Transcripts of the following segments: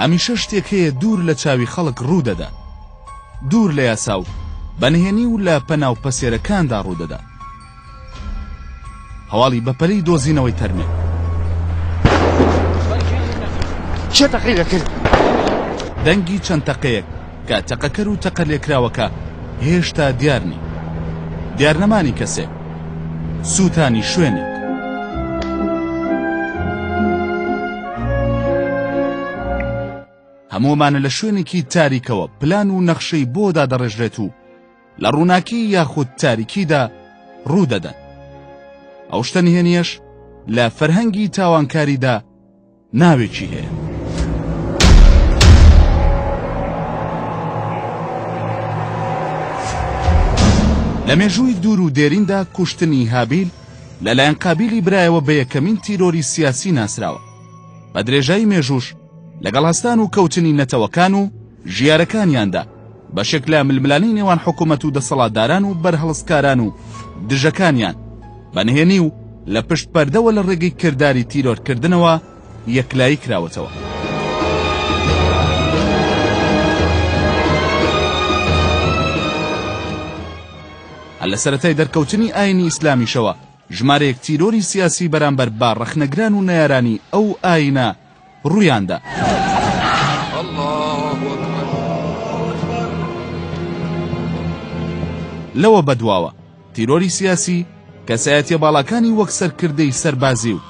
هەمیشە شتێک هەیە دوور لە چاوی خەڵک ڕوودەدات، دوور لە یاسا و بە نهێنی و لە پەناو پەسێرەکاندا ڕوودەدات. هەواڵی بەپەلەی دۆزینەوەی تەرمێ. دەنگی چەند تەقەیەک. کە تەقەکەر و تەقەلێکراوەکە هێشتا دیار نین. دیارنەمانی کەسێک، سووتانی شوێنێک. هەموومانە لە شوێنێکی تاریکەوە پلان و نەخشەی بۆ دادەڕێژرێت و لە ڕووناکی یاخود تاریکیدا ڕوو دەدەن. ئەو شتە نهێنییەش لە فەرهەنگی تاوانکاریدا، ناوێکی هەیە. لە مێژووی دوور و دێریندا کوشتنی هابیل لەلایەن قابیلی برایەوە بە یەکەمین تیرۆری سیاسی ناسراوە بە درێژایی مێژووش لەگەڵ هەستان و کەوتنی نەتەوەکان و ژیارەکانیاندا، بەشێک لە ململانێی نێوان حکومەت و دەسەڵاتداران و بەرهەڵستکاران و دژەکانیان، بە نهێنی و لە پشت پەردەوە لە ڕێگەی کرداری تیرۆرکردنەوە یەکلایی کراوەتەوە. هەر لە سەرەتای دەرکەوتنی ئایینی ئیسلامیشەوە، ژمارەیەک تیرۆری سیاسی بەرامبەر بە ڕەخنەگران و نەیارانی ئەو ئایینە ڕوویاندا. لەوە بەدواوە تیرۆری سیاسی کەسایەتیە باڵاکانی وەک سەرکردەی سەربازی و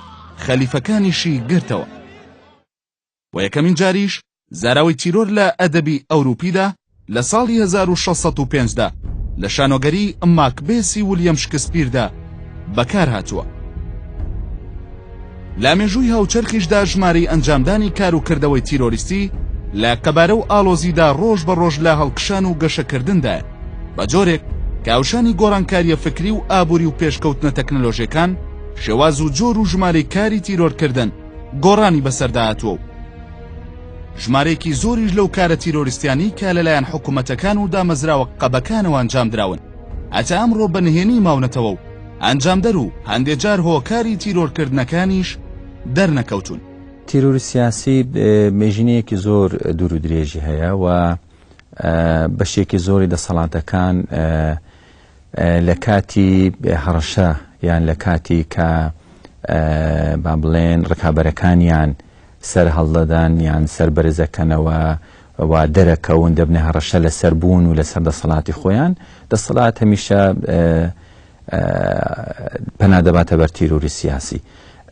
خەلیفەکانیشی گرتەوە و یەکەمین جاریش زاراوەی تیرۆر لە ئەدەبی ئەوروپیدا لە ساڵی هەزار و شەش سەد و پێنج دا لە شانۆگەریی ماکبێسی ولیەم شکسپیردا بەکار هاتووە. لە مێژووی هاوچەرخیشدا ژمارەی ئەنجامدانی کار و کردەوەی تیرۆریستی لە قەبارە و ئاڵۆزیدا ڕۆژ بە ڕۆژ لە هەڵکشان و گەشەکردندایە بە جۆرێک کاوشانی گۆڕانکاریە فکری و ئابووری و پێشکەوتنە تەکنەلۆژیەکان شێواز و جۆر و ژمارەی کاری تیرۆرکردن گۆڕانی بەسەردا هاتووە و ژمارەیەکی زۆریش لەو کارە تیرۆریستیانەی کە لەلایەن حکومەتەکان و دامەزراوە قەبەکانەوە ئەنجام دراون هەتا ئەمڕۆ بە نهێنی ماونەتەوە و ئەنجامدەر و هەندێ جار هۆکاری تیرۆرکردنەکانیش دەرنەکەوتون. تیرۆری سیاسی مێژینەیەکی زۆر دوور و درێژی هەیە و بەشێکی زۆری دەسەڵاتەکان لە کاتی هەڕەشە یان لە کاتی کە با بڵێن ڕکابەرەکانیان سەر هەڵدەدەن یان سەر بەرزەکەنەوە و دەرەکەون دەبنە هەڕەشە لە سەر بوون و لە سەر دەسەڵاتی خۆیان دەسەڵات هەمیشە پەنا دەباتە بەر تیرۆری سیاسی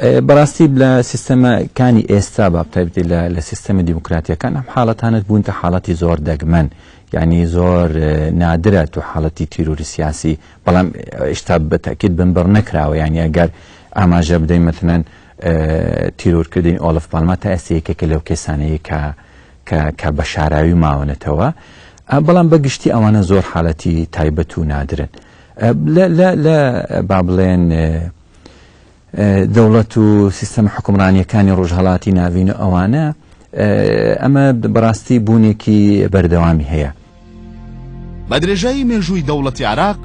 بەڕاستی لە سیستەمەکانی ئێستا بابتەبێت لە سیستەمی دیموکراتیەکان ئەم حاڵەتانت بوونتە حاڵەتی زۆر دەگمەن یانی زۆر نادرە تو حاڵەتی تیرور سیاسی بەڵام ئشتا بەتەکیت بنبڕ نەکراوە یانی ئەگەر ئاماژە بدەین مەتەن تیرورکردین ئۆلف پالما تا ئێستا یەکێکە لەو کەسانەیە کە کە بە شاراوی ماونەتەوە بەڵام بەگشتی ئەوانە زۆر حالەتی تایبەت و نادرن لە با بڵێن دەوڵەت و سیستەمە حوکمڕانییەکانی ڕۆژهەڵاتی ناڤین و ئەوانە، ئەمە بەڕاستی بوونێکی بەردەوامی هەیە. بە درێژایی مێژووی دەوڵەتی عێراق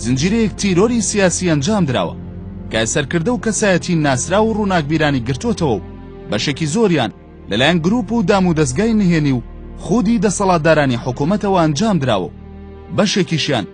زنجیرەیەک تیرۆری سیاسی ئەنجام دراوە کە سەرکردە و کەسایەتی ناسراو و ڕووناکبیرانی گرتۆتەوە و بەشێکی زۆریان لەلایەن گروپ و دامودەزگای نهێنی و خودی دەسەڵاتدارانی حکومەتەوە ئەنجام دراوە و بەشێکیشیان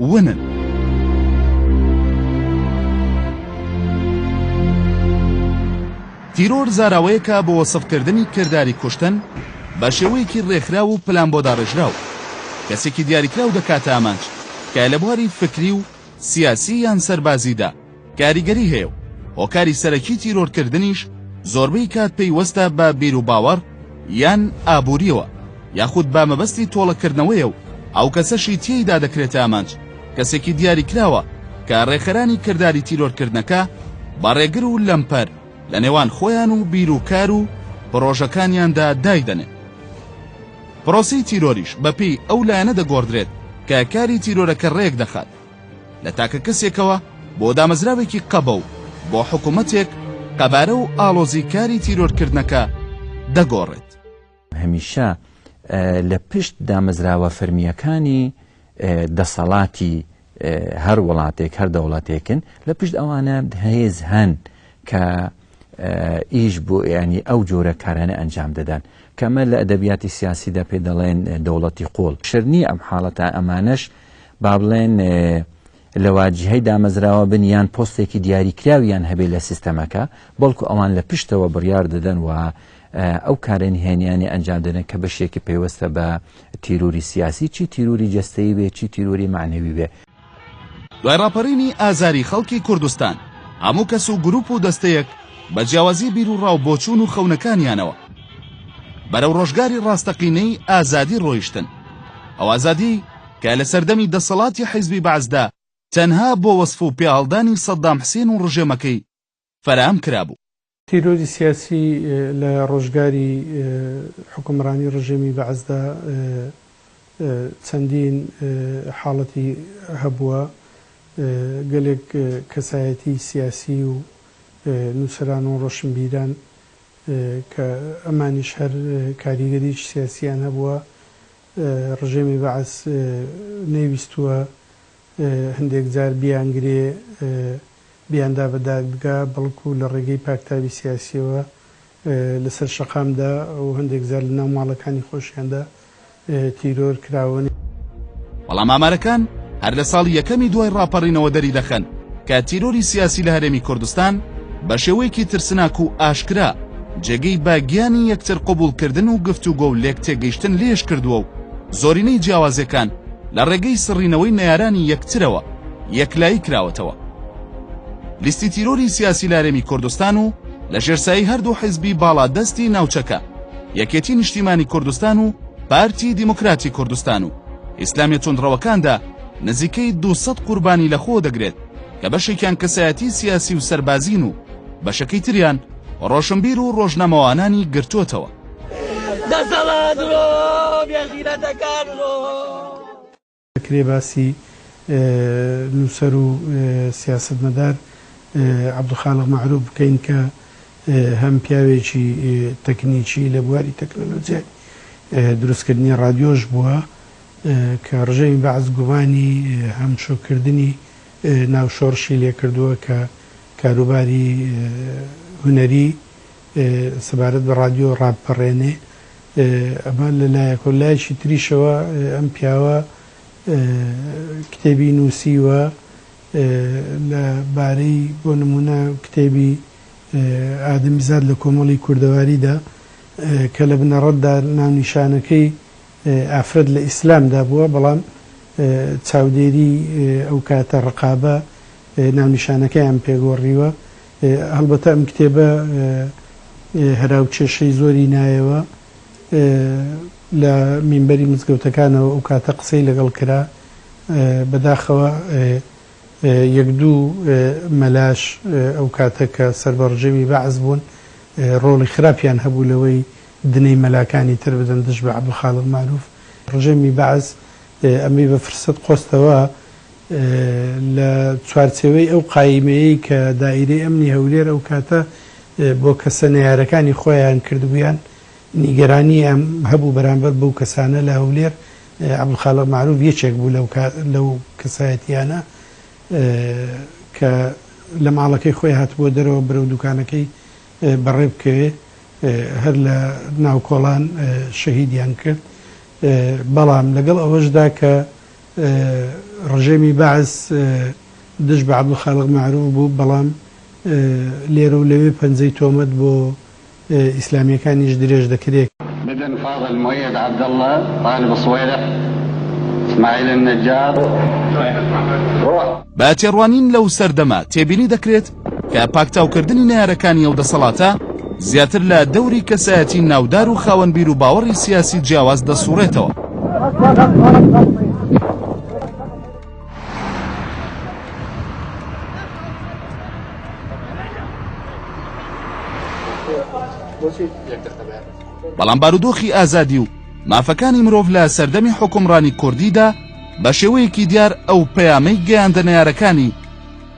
ونن. تیرۆر زاراوەیەکە بۆ وەسفکردنی کرداری کوشتن بە شێوەیەکی ڕێکخراو و پلانبۆداڕێژراو، کەسێکی دیاریکراو دەکاتە ئامانج، تکایە لە بواری فکری و سیاسی یان سەربازیدا کاریگەری هەیە و هۆکاری سەرەکی تیرۆرکردنیش زۆربەی کات پەیوەستە بە بیروباوەڕ یان ئابوورییەوە یاخود بە مەبەستی تۆڵەکردنەوەیە و ئەو کەسەشی تێیدا دەکرێتە ئامانج کەسێکی دیاریکراوە کە ڕێکخەرانی کرداری تیرۆرکردنەکە بە ڕێگر و لەمپەر لە نێوان خۆیان و بیر و کار و پڕۆژەکانیاندا دایدەنێن. پرۆسەی تیرۆریش بەپێی ئەو لایەنە دەگۆڕدرێت کە کاری تیرۆرەکە ڕێک دەخات، لە تاکە کەسێکەوە بۆ دامەزراوێکی قەبە و بۆ حکومەتێک قەبارە و ئاڵۆزی کاری تیرۆرکردنەکە دەگۆڕێت. هەمیشە لە پشت دامەزراوە فەرمییەکانی دەسەڵاتی هەر وڵاتێک هەر دەوڵەتێکن لە پشت ئەوانە هێز هەن کە ئیش بۆ ینی ئەو جۆرە کارانە ئەنجام دەدەن کەمە لە ئەدەبیاتی سیاسیدا پێ دەڵێن دەوڵەتی قۆڵ شرنی ئەم حاڵەتە ئەمانەش با بڵێن لە واجیهەی دامەزراوە بن یان پۆستێکی دیاریکراویان هەبێت لە سیستەمەکە بەڵکو ئەوان لە پشتەوە بڕیار دەدەن و ئەو کارە نهێنیانی ئەنجام دەدەن کە بەشێکی پەیوەستە بە تیروری سیاسی چی تیروری جستەی بێ چی تیروری معنەوی بێ دوای ڕاپەرینی ئازاری خەڵکی کوردستان هەموو کەس و گروپ و دەستەیەک بە جیاوازی بیر و ڕاو بۆچوون و خەونەکانیانەوە بەرەو ڕۆژگاری ڕاستەقینەی ئازادی ڕۆیشتن ئەو ئازادی کە لە سەردەمی دەسەڵاتی حیزبی بەعسدا تەنها بۆ وەسف و پێهەڵدانی سەدام حسێن و ڕژێمەکەی فەراهەم کرابوو. تیرۆری سیاسی لە ڕۆژگاری حوکمڕانی ڕژێمی بەعسدا چەندین حاڵەتی هەبووە، گەلێک کەسایەتی سیاسی و نووسەران و ڕۆشنبیران کە ئەمانیش هەر کاریگەریی سیاسییان هەبووە، ڕژێمی بەعس نەیویستووە هەندێک جار بیانگرێ، بیاندا بە دادگا، بەڵکوو لە ڕێگەی پاکتاوی سیاسییەوە لەسەر شەقامدا و هەندێک جار لەناو ماڵەکانی خۆشیاندا تیرۆر کراون. بەڵام ئامارەکان هەر لە ساڵی یەکەمی دوای ڕاپەڕینەوە دەری دەخەن کە تیرۆری سیاسی لە هەرێمی کوردستان بە شێوەیەکی ترسناک و ئاشکرا جێگەی بە گیانی یەکتر قبوڵکردن و گفتوگۆ و لێک تێگەیشتن لێش کردووە و زۆرینەی جیاوازیەکان لە ڕێگەی سڕینەوەی نەیارانی یەکترەوە یەکلایی کراوەتەوە. لیستی تیرۆری سیاسی لە هەرێمی کوردستان و لە ژێر سایەی هەردوو حیزبی باڵا دەستی ناوچەکە، یەکێتی نیشتیمانی کوردستان و پارتی دیموکراتی کوردستان و ئیسلامیە توندڕەوەکاندا نزیکەی دوو سەد قوربانی لە خۆ دەگرێت کە بەشێکیان کەسایەتی سیاسی و سەربازین و بەشەکەی تریان ڕۆشنبیر و ڕۆژنامەوانانی گرتۆتەوە. دەسەڵات ڕۆ بێغیرەتەکان ڕۆ. دەکرێ باسی نووسەر و سیاسەتمەدار عەبدولخالق مەعروف بکەین کە هەم پیاوێکی تەکنیکی لە بواری تەکنۆلۆجیای دروستکردنی ڕادیۆش بووە کە ڕژێمی بەعس گومانی هەمشۆکردنی ناو شۆڕشی لێ کردووە کە کاروباری هونەری سەبارەت بە ڕادیۆ ڕابپەڕێنێ. ئەمە لە لایەک و لایەکی تریشەوە ئەم پیاوە کتێبی نووسیوە لە بارەی بۆ نموونە کتێبی ئادەمیزاد لە کۆمەڵی کوردەواریدا کە لە بنەڕەتدا ناونیشانەکەی ئافرەت لە ئیسلامدا بووە بەڵام چاودێری ئەو کاتە ڕقابە ناونیشانەکەیان پێگۆڕیوە. هەڵبەتە ئەم کتێبە هەراوکێشەی زۆری نایەوە، لە مینبەری مزگەوتەکانەوە ئەو کاتە قسەی لەگەڵ کرا، بەداخەوە یەک دوو مەلاش ئەو کاتە کە سەر بە ڕژێمی بەعس بوون ڕۆڵی خراپیان هەبوو لەوەی دنەی مەلاکانی تر بدەن دژ بە عەبدولخالق مەعروف، ڕژێمی بەعس ئەمەی بە فرسەت قۆستەوە. لە چوارچێوەی ئەو قایمەیەی کە دائیرەی ئەمنی هەولێر ئەو کاتە بۆ کەسە نەیارەکانی خۆیان کردبوویان، نیگەرانییان هەبوو بەرامبەر بەو کەسانە لە هەولێر، عەبدولخالق مەعروف یەکێک بوو لەو کەسایەتییانە کە لە ماڵەکەی خۆی هاتبووە دەرەوە بەرەو دووکانەکەی بەڕێ بکەوێ، هەر لە ناوکۆڵان شەهیدیان کرد، بەڵام لەگەڵ ئەوەشدا کە ڕژێمی بەعس دژ بە عەبدولخالق مەعروف بوو، بەڵام لێرە و لەوێ پەنجەی تۆمەت بۆ ئیسلامییەکانیش درێژ دەکرێ. بدن فاضل مؤيد عبدالله طالب الصويرح اسماعيل النجار روح. بە تێڕوانین لەو سەردەمە تێبینی دەکرێت، کە پاکتاوکردنی نەیارەکانی ئەو دەسەڵاتە زیاتر لە دەوری کەسایەتی ناودار و خاوەن بیر و باوەڕی سیاسی جیاواز دەسوڕێتەوە. بەڵام بارودۆخی ئازادی و مافەکانی مرۆڤ لە سەردەمی حکومڕانی کوردیدا بە شێوەیەکی دیار ئەو پەیامەی گەیاندە نەیارەکانی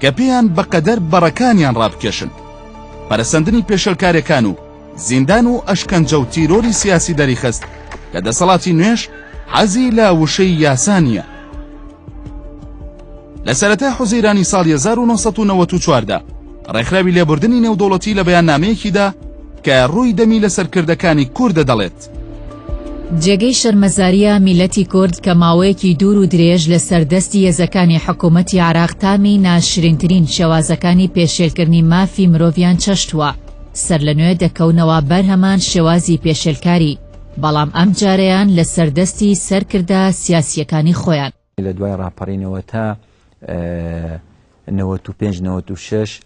کە پێیان بەقەدەر بەڕەکانیان ڕابکێشن. پەرەسەندنی پێشێلکارێکان و زیندان و ئەشکەنجە و تیرۆری سیاسی دەریخست کە دەسەڵاتی نوێش حەزی لە وشەی یاسا نییە. لە سەرەتای حوزەیرانی ساڵی 1994 دا ڕێکخراوی لێبوردنی نێودەوڵەتی لە بەیاننامەیەکیدا کە ڕووی دەمی لە سەرکردەکانی کوردە دەڵێت، جێگەی شەرمەزاریە میلەتی کورد کە ماوەیەکی دوور و درێژ لە سەر دەستی هێزەکانی حکومەتی عێراق تامی ناشرینترین شێوازەکانی پێشێلکردنی مافی مرۆڤیان چەشتوە سەر لە نوێ دەکەونەوە بەر هەمان شێوازی پێشێلکاری بەڵام ئەم جارەیان لە سەر دەستی سەرکردە سیاسیەکانی خۆیان. لە دوای ڕاپەڕینەوە تا نەوەت و پێنج نەوەت و شەش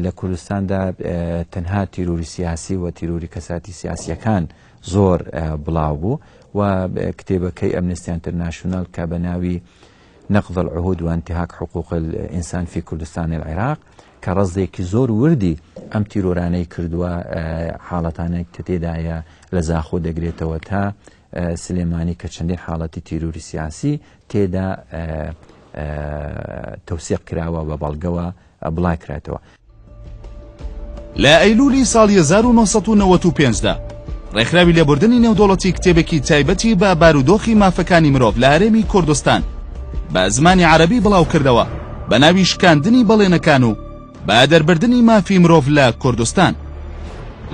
لە کوردستاندا تەنها تیرۆری سیاسی و تیرۆری کەساتی سیاسیەکان زۆر بڵاو بوو و کتێبەکەی ئەمنستی ئەنتەرناشونال کە بە ناوی نقض العهود وانتهاك حقوق الانسان في كردستان العراق کە ڕزێکی زۆر وردی ئەم تیرۆرانەی کردووە حاڵەتانێک کە تێدایە لە زاخۆ دەگرێتەوە تا سلێمانی کە چەندین حاڵەتی تیروری سیاسی تێدا تەوسێق کراوە بە بەڵگەوە بڵای کراتەوە. لە ئەیلولی ساڵی 1995 دا ڕێکخراوی لێبوردنی نێودەوڵەتی کتێبێکی تایبەتی بە بارودۆخی مافەکانی مرۆڤ لە هەرێمی کوردستان بە زمانی عەرەبی بڵاوکردەوە بە ناوی شکاندنی بەڵێنەکان و بە دەربردنی مافی مرۆڤ لە کوردستان.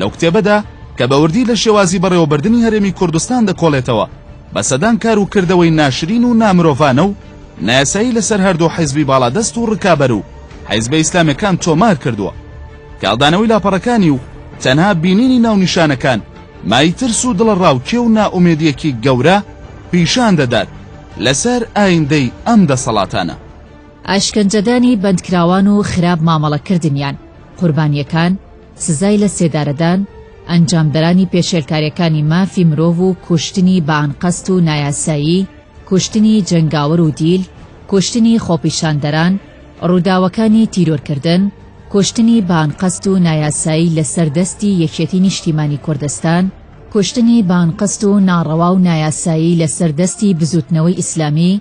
لەو کتێبەدا کە بە وردی لە شێوازی بەڕێوەبردنی هەرێمی کوردستان دەکۆڵێتەوە، بە سەدان کار و کردەوەی ناشرین و نامرۆڤانە و نایاسایی لەسەر هەردوو حیزبی باڵادەست و ڕکابەر و حیزبە ئیسلامێکان تۆمار کردووە. کاڵدانەوەی لاپەڕەکانی و تەنها بینینی ناونیشانەکان مای ترس و دڵەڕاوکێ و نائومێدییەکی گەورە پیشان دەدات لەسەر ئایندەی ئەم دەسەڵاتانە. ئەشکەنجەدانی بەندکراوان و خراپ مامەڵەکردنیان، قوربانییەکان، سزای لە سێدارەدان، ئەنجامدەرانی پێشێلکارییەکانی مافی مرۆڤ و کوشتنی بە ئانقەست و نایاسایی، کوشتنی جەنگاوەر و دیل، کوشتنی خۆپیشاندەران، ڕووداوەکانی تیرۆرکردن، کوشتنی بە ئانقەست و نایاسایی لەسەر دەستی یەکێتی نیشتیمانی کوردستان، کوشتنی بە ئانقەست و ناڕەوا و نایاسایی لەسەر دەستی بزووتنەوەی ئیسلامی،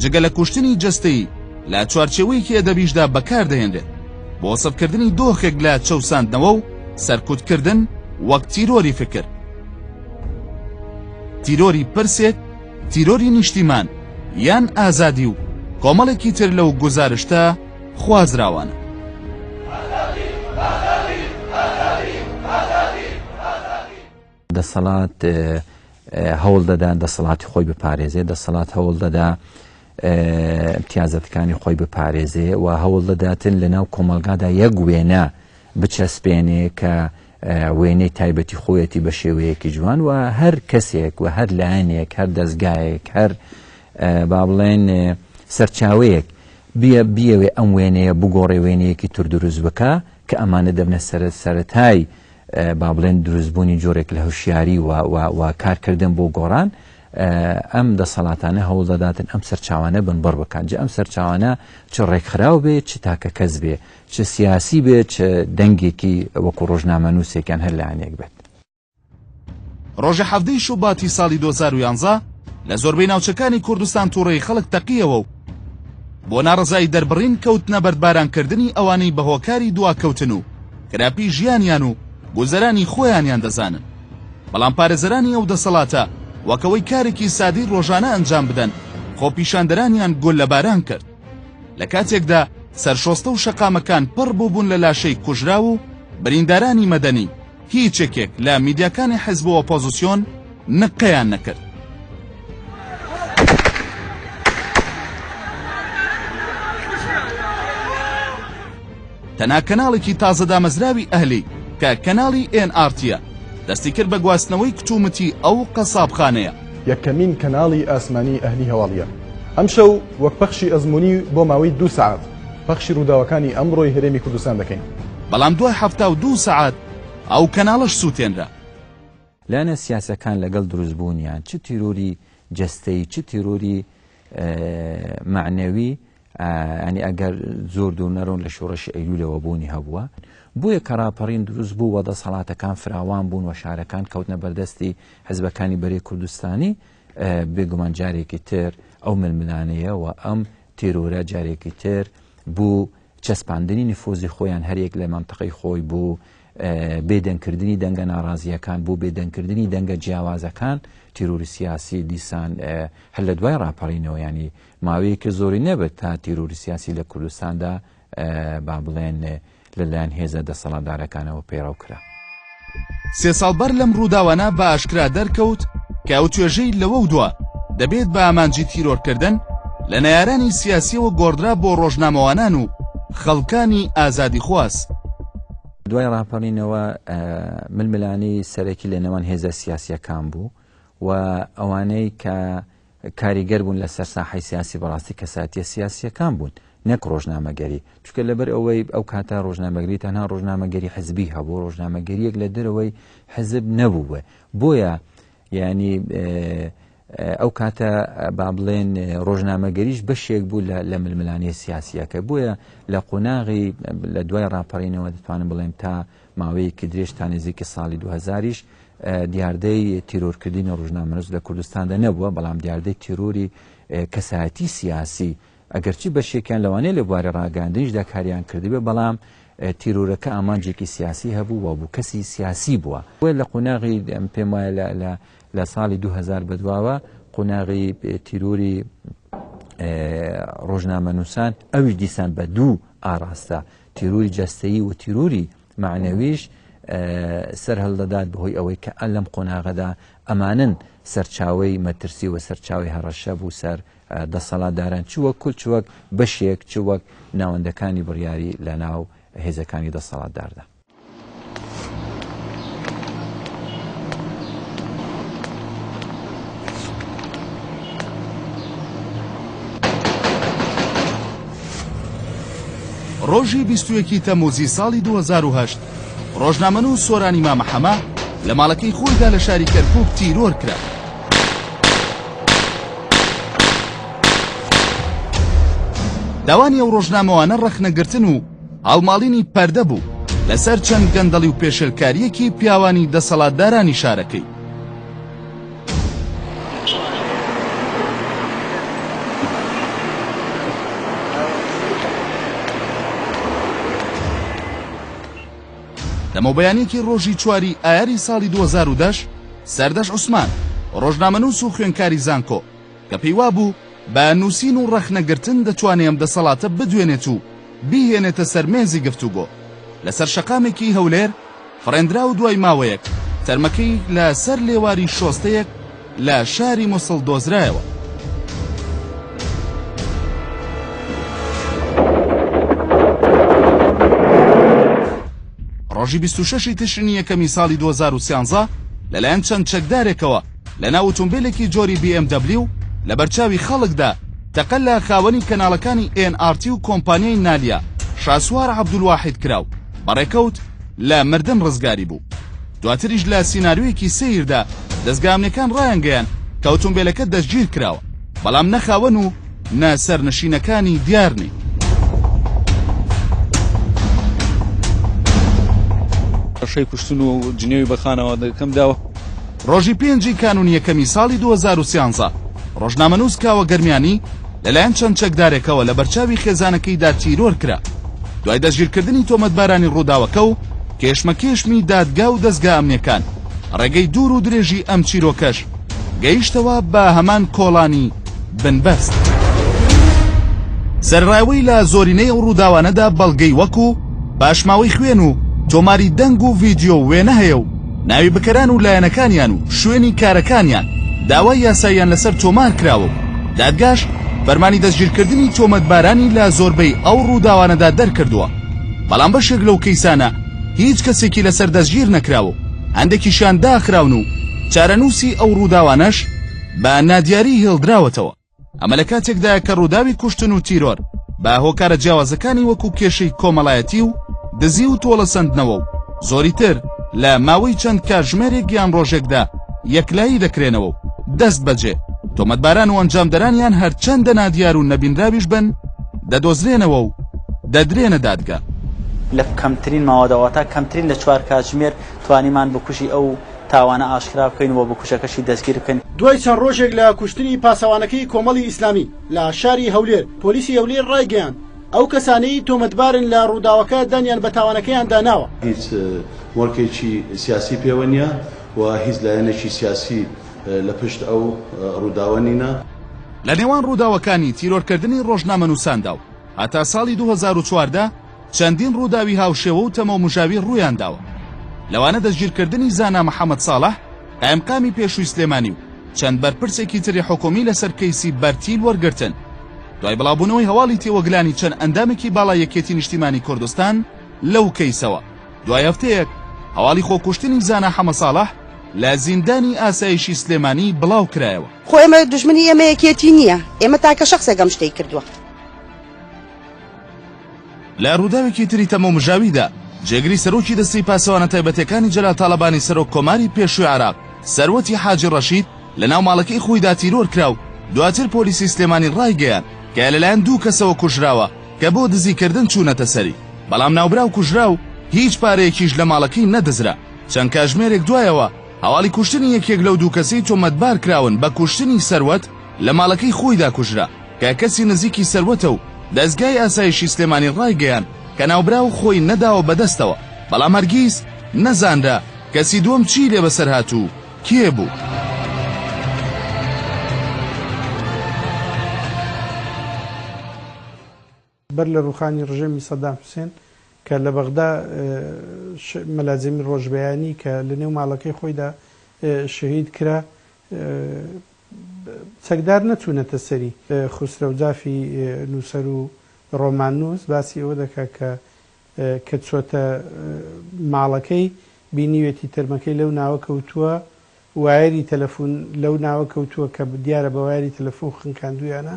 جگە لە کوشتنی جەستەیی، لە چوارچێوەیەکی ئەدەبیشدا بەکاردەهێنرێت بۆ وەسفکردنی دۆخێک لە چەوساندنەوە و سەرکوتکردن وەک تیرۆری فکر، تیرۆری پرسێک، تیرۆری نیشتیمان، یان ئازادی و کۆمەڵێکی تر لەو گوزارشتە خوازراوانە. دەسەڵات هەوڵ دەدا دەسەڵاتی خۆی بپارێزێ دەسەڵات هەوڵ دەدا امتیازەتەکانی خۆی بپارێزێ و هەوڵ دەداتن لە ناو کۆمەلگادا یەک وێنە بچەسپێنێ کە وێنەی تایبەتی خۆیەتی بە شێوەیەکی جوان و هەر کەسێک و هەر لایەنێک هەر دەستگایەک هەر با بڵێن سەرچاوەیەک بیە بیەوێ ئەم وێنەیە بگۆڕێ وێنەیەکی تر دروست بکە کە ئەمانە دەبنە سەرەت سەرەتای با بڵێن دروستبوونی جۆرێک لە هوشیاری و و و کارکردن بۆ گۆڕان ئەم دەسەڵاتانە هەوڵ دەداتن ئەم سەرچاوانە بنبڕ بکەن جە ئەم سەرچاوانە چ ڕێکخراو بێ چ تاکە کەس بێ چ سیاسی بێ چ دەنگێکی وەکو ڕۆژنامە نووسێکیان هەر لایەنێک بێت. ڕۆژی حەڤدەی شوباتی ساڵی دوو هەزار و یانزە لە زۆربەی ناوچەکانی کوردستان تووڕەیی خەڵک تەقییەوە و بۆ ناڕەزایی دەربڕین کەوتنە بەردبارانکردنی ئەوانەی بە هۆکاری دواکەوتن و خراپی ژیانیان و گوزەرانی خۆیانیان دەزانن، بەڵام پارێزەرانی ئەو دەسەڵاتە وەک ئەوەی کارێکی سادەی رۆژانە ئەنجام بدەن، خۆپیشاندەرانیان گوللەباران کرد. لە کاتێکدا سەرشۆستە و شەقامەکان پڕ بووبوون لە لاشەی کوژراو و بریندارانی مەدەنی، هیچ یەکێک لە میدیاکانی حزب و ئۆپۆزسیۆن، نقەیان نەکرد. تەنها کەناڵێکی تازە دامەزراوی ئەهلی کە کەناڵی ئێن ئارتیە دەستی کرد بە گواستنەوەی کتومتی ئەو قەسابخانەیە. یەکەمین کەناڵی ئاسمانی ئەهلی هەواڵیە ئەمشەو وەک پەخشی ئەزموونی بۆ ماوەی دوو سەعات پەخشی ڕووداوەکانی ئەمڕۆی هەرێمی کوردستان دەکەین. بەڵام دوای حەفتا و دوو سەعات ئەو کەناڵەش سووتێنرا. لایەنە سیاسیەکان لەگەڵ دروست بوونیان چ تیرۆری جەستەیی چ تیرۆری مەعنەوی ینی ئەگەر زۆر دوور نەرۆن لە شۆڕشی ئەیلولەوە بوونی هەبووە بۆیە کە ڕاپەڕین دروست بوو وە دەسەڵاتەکان فراوان بوون و شارەکان کەوتنە بەردەستی حزبەکانی بەرەی کوردستانی بێگومان جارێکی تر ئەو ململانەیە و ئەم تێرۆرە جارێکی تر بوو چەسپاندنی نفوزی خۆیان هەریەک لە مەنتقەی خۆی بۆ بێ دەنگکردنی دەنگە ناڕازییەکان بۆ بێ دەنگکردنی دەنگە جیاوازەکان تیرۆری سیاسی دیسان هەر لە دوای ڕاپەڕینەوە ینی ماوەیەکە زۆری نەبێت تا تیرۆری سیاسی لە کوردستاندا با بڵێن لەلایەن هێزە دەسەڵاتدارەکانەوە پەیڕەو کرا. سێ ساڵ بەر لەم ڕووداوانە بە ئاشکرا دەرکەوت کە ئەو توێژەی لەوەو دوا دەبێت بە ئامانجی تیرۆرکردن لە نەیارانی سیاسیەوە گۆڕدرا بۆ ڕۆژنامەوانان و خەڵکانی ئازادی خواز. دوای ڕاپەڕینەوە ململانێی سەرەکی لە نێوان هێزە سیاسیەکان بوو و ئەوانەی کە کاریگەر بوون لەسەر ساحەی سیاسی بەڕاستی کەسایەتیە سیاسیەکان بوون نەک ڕۆژنامەگەری چونکە لەبەر ئەوەی ئەو کاتە ڕۆژنامەگری تەنها ڕۆژنامەگەری حزبی هەبوو ڕۆژنامەگەریەک لە دەرەوەی حزب نەبوو بێ بۆیە یعنی ئەو کاتە با بڵێن ڕۆژنامەگەریش بەشێک بوو لە ململانێ سیاسیەکە بۆیە لە قۆناغی لە دوای ڕاپەڕینەوە دەتوانم بڵێم تا ماوەیەکی درێژ تا نێزیکی ساڵی دوو هەزاریش دیاردەی تیرۆرکردنی ڕژنامەنووس لە کوردستاندا نەبووە بەڵام دیاردەی تیرۆری کەسایەتی سیاسی ئەگەرچی بەشێکیان لەوانەیە لە بواری ڕاگەاندنیشدا کاریان کردبێ بەڵام تیرۆرەکە ئامانجێکی سیاسی هەبوو و بوو کەسی سیاسی بووە وێ لە قۆناغی پێم وایە لە ساڵی 2000 بەدواوە قۆناغی تیرۆری ڕۆژنامە نووسان ئەویش دیسان بە دوو ئاراستە تیروری جەستەیی و تیروری مەعنەویش سەرهەڵدەدات بەهۆی ئەوەی کە ئە لەم قۆناغەدا ئەمانن سەرچاوی مەترسی و سەرچاوی هەڕەشە بوو سەر دەسەڵاتداران چووە کول چوەک بەشێک چوەک ناوەندەکانی بڕیاری لە ناو هێزەکانی دەسەڵاتداردا. ڕۆژی بیستویەکی تەموزی ساڵی 2010 ڕۆژنامەن و سۆرانی مامەحەمە لە ماڵەکەی خۆیدا لە شاری کەرکک تیرۆر کرا. داوانی ئەو ڕۆژنامەوانە ڕەخنەگرتن و هەڵماڵینی پەردە بوو لەسەر چەند گەندەڵی و پێشێلکارییەکی پیاوانی دەسەڵاتدارانی شارەکەی. لەمەوبەیانێکی ڕۆژی چواری ئایاری ساڵی 2010 سەردەش عوسمان ڕۆژنامەنووس و خوێنکاری زانکۆ کە پێیوابوو بە نووسین و ڕەخنەگرتن دەتوانێ ئەم دەسەڵاتە بدوێنێت و بیهێنێتە سەر مێزی گفتوگۆ لەسەر شەقامێکی هەولێر فڕێندرا و دوای ماوەیەک تەرمەکەی لە سەر لێواری شۆستەیەک لە شاری موسڵ دۆزرایەوە. ڕۆژی بیست و شەش ی تشرینی یەکەمی ساڵی دوو هەزار و سیانزە لەلایەن چەند چەکدارێکەوە، لەناو ئوتومبیلێکی جۆری بی ئێم دەبلیو لەبەرچاوی خەڵکدا تەقە لە خاوەنی کەناڵەکانی ئێن ئاڕ تی و کۆمپانیای نالیا شاسوار عەبدولواحید کرا و بەڕێکەوت لە مردن ڕزگاری بوو. دواتریش لە سیناریۆیەکی سەیردا دەزگا ئەمنیەکان ڕایانگەیاند کە ئوتومبیلەکە دەستگیر کراوە بەڵام نە خاوەن و نە سەرنشینەکانی دیار نین. شەی کوشتن و جنێوی بە خانەوادەکەم داوە. ڕۆژی پێنجی کانوونی یەکەمی ساڵی دوو هەزار و سیانزە، ڕۆژنامەنووس کاوە گەرمیانی لەلایەن چەند چەکدارێکەوە لەبەرچاوی خێزانەکەیدا تیرۆر کرا. دوای دەستگیرکردنی تۆمەتبارانی ڕووداوەکە و کێشمەکێشمی دادگا و دەزگا ئەمنییەکان، ڕێگەی دوور و درێژی ئەم چیرۆکەش گەیشتەوە بە هەمان کۆڵانی بنبەست. سەرەڕای ئەوەی لە زۆرینەی ئەو ڕووداوانەدا بەڵگەی وەکوو پاشماوەی خوێن و تۆماری دەنگ و ڤیدیۆ و وێنە هەیە و، ناوی بکەران و لایەنەکانیان و شوێنی کارەکانیان داوای یاساییان لەسەر تۆمار کراوە و دادگاش فەرمانی دەستگیرکردنی تۆمەتبارانی لە زۆربەی ئەو ڕووداوانەدا دەرکردووە، بەڵام بەشێک لەو کەیسانە هیچ کەسێکی لەسەر دەستگیر نەکراوە و هەندێکیشیان داخراون و چارەنووسی ئەو ڕووداوانەش بە نادیاری هێڵدراوەتەوە. ئەمە لە کاتێکدایە کە ڕووداوی کوشتن و تیرۆر بە هۆکارە جیاوازەکانی وەکو کێشەی کۆمەڵایەتی و دزی و تۆڵەسەندنەوە و زۆری تر لە ماوەی چەند کاتژمێرێک یان ڕۆژێکدا یەکلایی دەکرێنەوە و دەست بەجێ تۆمەتباران و ئەنجامدەرانیان هەرچەندە نادیار و نەبینراویش بن دەدۆزرێنەوە و دەدرێنە دادگا. لە کەمترین ماوەدا واتا کەمترین لە چوار کاتژمێر توانیمان بکوژی ئەو تاوانە ئاشکرا بکەین و بکوژەکەشی دەستگیر بکەین. دوای چەند ڕۆژێک لە کوشتنی پاسەوانەکەی کۆمەڵی ئیسلامی لە شاری هەولێر، پۆلیسی هەولێر ڕایگەیاند، ئەو کەسانەی تۆمەتبارن لە ڕووداوەکە دانیان بە تاوانەکەیاندا ناوە. هیچ مۆڵکێکی سیاسی پێوە نییە و هیچ لایەنێکی سیاسی لە پشت ئەو ڕووداوە نینە. لە نێوان ڕووداوەکانی تیرۆرکردنی ڕۆژنامەنووساندا و هەتا ساڵی دوو هەزار و چواردە، چەندین ڕووداوی هاوشێوە و تەمومژاوی ڕوویان داوە، لەوانە دەستگیرکردنی زانا محەمەد ساڵح، قایمقامی پێشووی سلێمانی و چەند بەرپرسێکی تری حکوومی لەسەر کەیسی بەرتیل وەرگرتن، دوای بڵاوبوونەوەی هەواڵی تێوەگلانی چەند ئەندامێکی باڵای یەکێتی نیشتیمانی کوردستان لەو کەیسەوە. دوای هەفتەیەک هەواڵی خۆکوشتنی زانا حەمە ساڵح لە زیندانی ئاسایشی سلێمانی بڵاو کرایەوە. خۆ ئێمە دوژمنی ئێمە یەکێتی نییە، ئێمە تاکە شەخسێک ئەم شتەی کردووە. لە ڕووداوێکی تری تەمومژاویدا، جێگری سەرۆکی دەستەی پاسەوانە تایبەتەکانی جەلال تاڵەبانی سەرۆک کۆماری پێشووی عێراق، سەروەتی حاجی ڕەشید لە ناو ماڵەکەی خۆیدا تیرۆر کرا و دواتر پۆلیسی سلێمانی ڕایگەیاند کە لەلایەن دوو کەسەوە کوژراوە کە بۆ دزی کردن چوونەتە سەری، بەڵام ناوبراو کوژرا و هیچ پارەیەکیش لە ماڵەکەی نەدزرا. چەند کاژمێرێک دوایەوە، هەواڵی کوشتنی یەکێک لەو دوو کەسەی تۆمەتبارکراون بە کوشتنی سەروەت، لە ماڵەکەی خۆیدا کوژرا، کە کەسی نزیکی سەروەتە و دەزگای ئاسایشی سلێمانی ڕایگەیاند کە ناوبراو خۆی نەداوە بەدەستەوە، بەڵام هەرگیز نەزانرا کەسی دووەم چیی لێ بەسەر هات و کێ بوو. بەر لە ڕووخانی ڕژێمی سەدام حوسێن کە لە بەغدا مەلا جەمیل ڕۆژبەیانی کە لە نێو ماڵەکەی خۆیدا شەهید کرا چەکدار نەچوونەتە سەری. خوسرەو جافی نووسەر و ڕۆماننووس باسی ئەوە دەکات کە کە چۆتە ماڵەکەی بینیوێتی تەرمەکەی لەو ناوە کەوتووە، وایەری تەلەفوون لەو ناوە کەوتووە کە دیارە بە وایەری تەلەفوون خنکاندوویانە،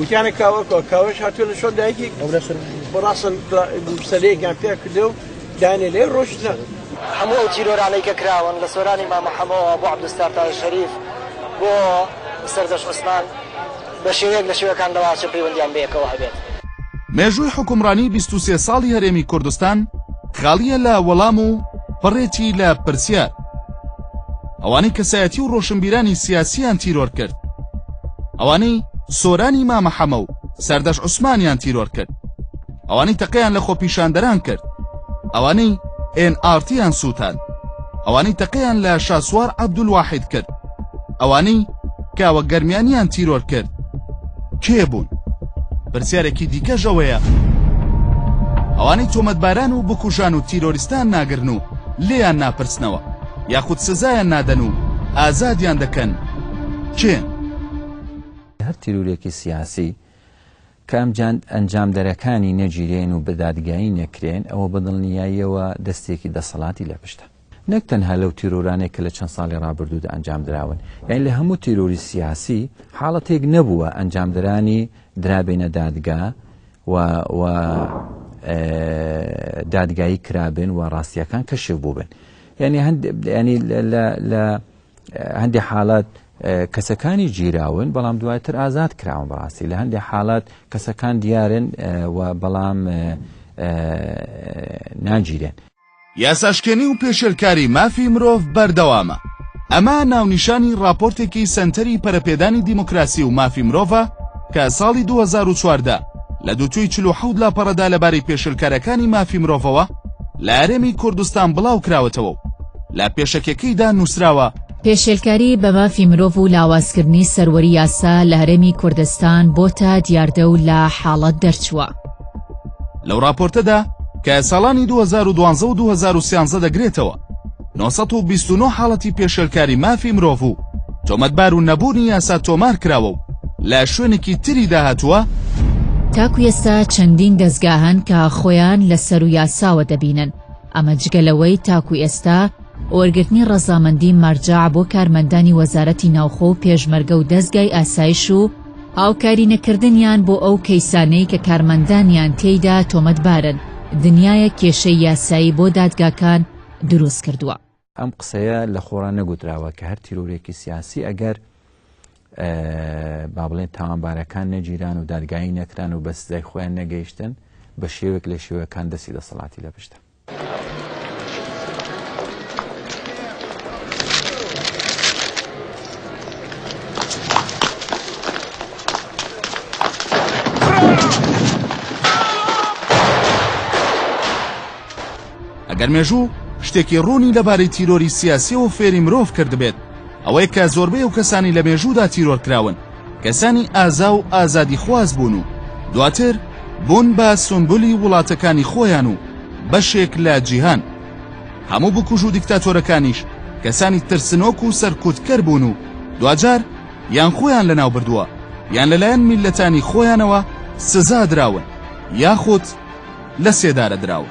وتیانە کاوەکە کاوەش هاتووە لە شۆن دایکی بەڕاستن سەرەیەکیان پێ کردە و دانێ لێ ڕۆشتە هەموو ئەو تیرۆرانەی کە کراون لە سۆرانی مامەحەمەوە بۆ عبدستار تا شەریف بۆ سەردەش عوسمان بە شێوەیەک لە شێوەکان لەواچە پەیوەندیان بەیەکەوە هەبێت. مێژووی حوکمڕانی بیست و سێ ساڵی هەرێمی کوردستان خاڵییە لە وەڵام و پڕێتی لە پرسیار. ئەوانەی کەسایەتی و ڕۆشنبیرانی سیاسیان تیرۆر کرد ئەوانەی سۆرانی مامە حەمە و سەردەش عوسمانیان تیرۆر کرد ئەوانەی تەقیان لە خۆپیشاندەران کرد ئەوانەی ئێن ئارتیان سووتان ئەوانەی تەقیان لە شاسوار عەبدولواحید کرد ئەوانەی کاوە گەرمیانیان تیرۆر کرد کێ بوون؟ پرسیارێکی دیکەش ئەوەیە ئەوانەی تۆمەتباران و بکوژان و تیرۆریستان ناگرن و لێیان ناپرسنەوە یاخود سزایان نادەن و ئازادیان دەکەن کێن؟ هەر تیرورێکی سیاسی کە ئەم ئەنجامدەرەکانی نەگیرێن و بەدادگایی نەکرێن، ئەوە بەدڵنیاییەوە دەستێکی دەسەڵاتی لە پشتە. نەک تەنها لەو تیرۆرانەی کە لە چەند ساڵی رابردوودا ئەنجامدراون، یانی لە هەموو تیرۆری سیاسی، حاڵەتێک نەبووە ئەنجامدەرانی درابێنە دادگا و و دادگایی کرابن و راستییەکان کەشف بووبن. یانی هەندێک یانی لە هەندێک حالات کەسەکانی گیراون بەڵام دواتر ئازاد کراون بەڕاستی لە هەندێک حالات کەسەکان دیارن و بەڵام ناگیرێن یاساشکێنی و پێشێلکاری مافی مرۆڤ بەردەوامە ئەمە ناونیشانی راپۆرتێکی سەنتەری پەرەپێدانی دیموکراسی و مافی مرۆڤە کە ساڵی 2014 لە دووتوی 47 لاپەڕەدا لەبارەی پێشلکارەکانی مافی مرۆڤەوە لە هەرێمی کوردستان بڵاوکراوەتەوە و لە پێشەکیەکەیدا نووسراوە، پێشێلکاری بە مافی مرۆڤ و لاوازکردنی سەروەری یاسا لە هەرێمی کوردستان بۆتە دیاردە و لە حاڵەت دەرچووە. لەو ڕاپۆرتەدا کە ساڵانی دوو هەزار و دوازدە و دوو هەزار و سیانزە دەگرێتەوە، نۆ سەد و بیست و نۆ حاڵەتی پێشێلکاری مافی مرۆڤ و تۆمەتبار و نەبوونی یاسا تۆمار کراوە و لە شوێنێکی تریدا هاتووە، تاکو ئێستا چەندین دەزگا هەن کە خۆیان لە سەرو یاساوە دەبینن، ئەمە جگە لەوەی تاکو ئێستا وەرگرتنی ڕەزامەندی مەرجەع بۆ کارمەندانی وەزارەتی ناوخۆ و پێشمەرگە و دەزگای ئاسایش و هاوکاری نەکردنیان بۆ ئەو کەیسانەی کە کارمەندانیان تێیدا تۆمەتبارن، دنیایەک کێشەی یاسایی بۆ دادگاکان دروست کردووە. ئەم قسەیە لە خۆڕا نەگوتراوە کە هەر تیرۆرێکی سیاسی ئەگەر با بڵێن تاوانبارەکان نەگیران و دادگایی نەکران و بە سزای خۆیان نەگەیشتن بە شێوێک لە شێوەکان دەستی دەسەڵاتی لە پشتە. ئەگەر مێژوو شتێکی ڕوونی لەبارەی تیرۆری سیاسیەوە فێری مرۆڤ کردبێت ئەوەی کە زۆربەی و کەسانی لە مێژوودا تیرۆر کراون کەسانی ئازا و ئازادیخواز بوون و دواتر بوون بە سومبولی وڵاتەکانی خۆیان و بەشێک لە جیهان. هەموو بکوژ و دیکتاتۆرەکانیش کەسانی ترسنۆک و سەرکوتکەر بوون و دواجار یان خۆیان لەناوبردووە یان لەلایەن میللەتانی خۆیانەوە سزا دراون یاخود لە سێدارە دراون.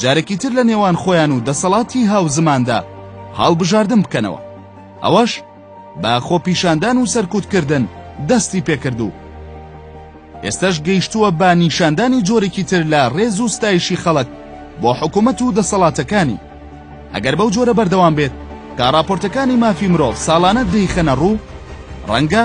جارێکی تر لە نێوان خۆیان و دەسەڵاتی هاوزماندا هەڵبژاردن بکەنەوە ئەوەش بە خۆپیشاندان و سەرکوتکردن دەستی پێکرد و ئێستاش گەیشتووە بە نیشاندانی جۆرێکی تر لە ڕێز و ستایشی خەڵک بۆ حکوومەت و دەسەڵاتەکانی ئەگەر بەو جۆرە بەردەوام بێت تا راپۆرتەکانی مافی مرۆڤ ساڵانە دەیخەنە ڕوو ڕەنگە